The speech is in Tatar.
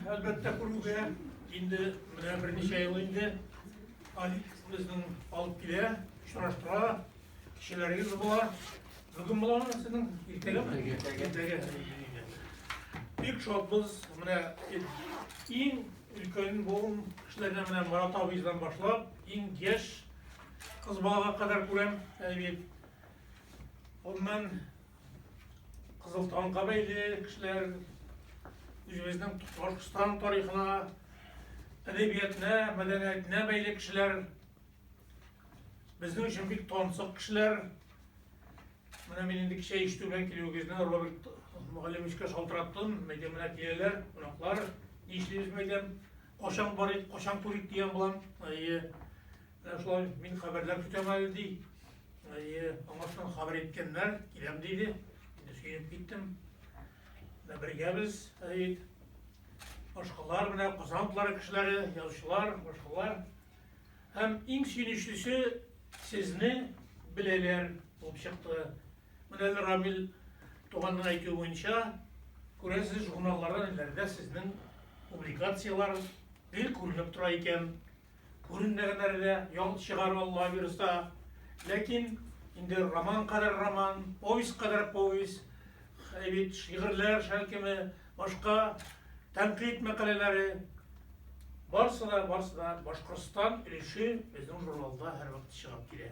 Әлбәттә күрүгә, инде менә берничә ел инде Алик безнең алып килә, очраштыра, кешеләрегез була. Бүген боларны сезнең иртәгәме? Иртәгә. Бик шатбыз, менә иң өлкән буын кешеләренә менә Марат абыйдан башлап, иң яшь кыз балага кадәр күрәм, әйбит. Оннан Кызыл танга бәйле кешеләр үзебезнең Башкортстан тарихына, әдәбиятына, мәдәниятына бәйле кешеләр Безнең өчен бик тансык кешеләр. Менә мин инде кичә ишетү белән килүегезне Роберт мөгаллимичкә шалтыраттым. Мәйдә менә киләләр, кунаклар. Ни эшлибез мәйдәм? Качан барыйк, качан күрик дигән булам. Әйе. Менә шулай мин хәбәрләр көтәм әле ди. Әйе, аңа шуны хәбәр иткәннәр, киләм диде. Инде сөенеп киттем. Менә бергәбез, Сәид. Башкалар менә Казан утлары кешеләре, язучылар, башкалар. Һәм иң сөенечлесе сезне беләләр булып чыкты. Менә әле Рамил туганның әйтүе буенча, күрәсез, журналларда ниләрдә сезнең публикацияләр гел күренеп тора икән. Күренмәгәннәр дә ял чыгару алла бирса. Ләкин инде роман кадәр роман, повесть кадәр повесть, бит шигырьләр шәлкеме, башка тәнкыйть мәкаләләре барсы да барсы да Башкортстан өлеше безнең журналда һәрвакыт чыгып килә.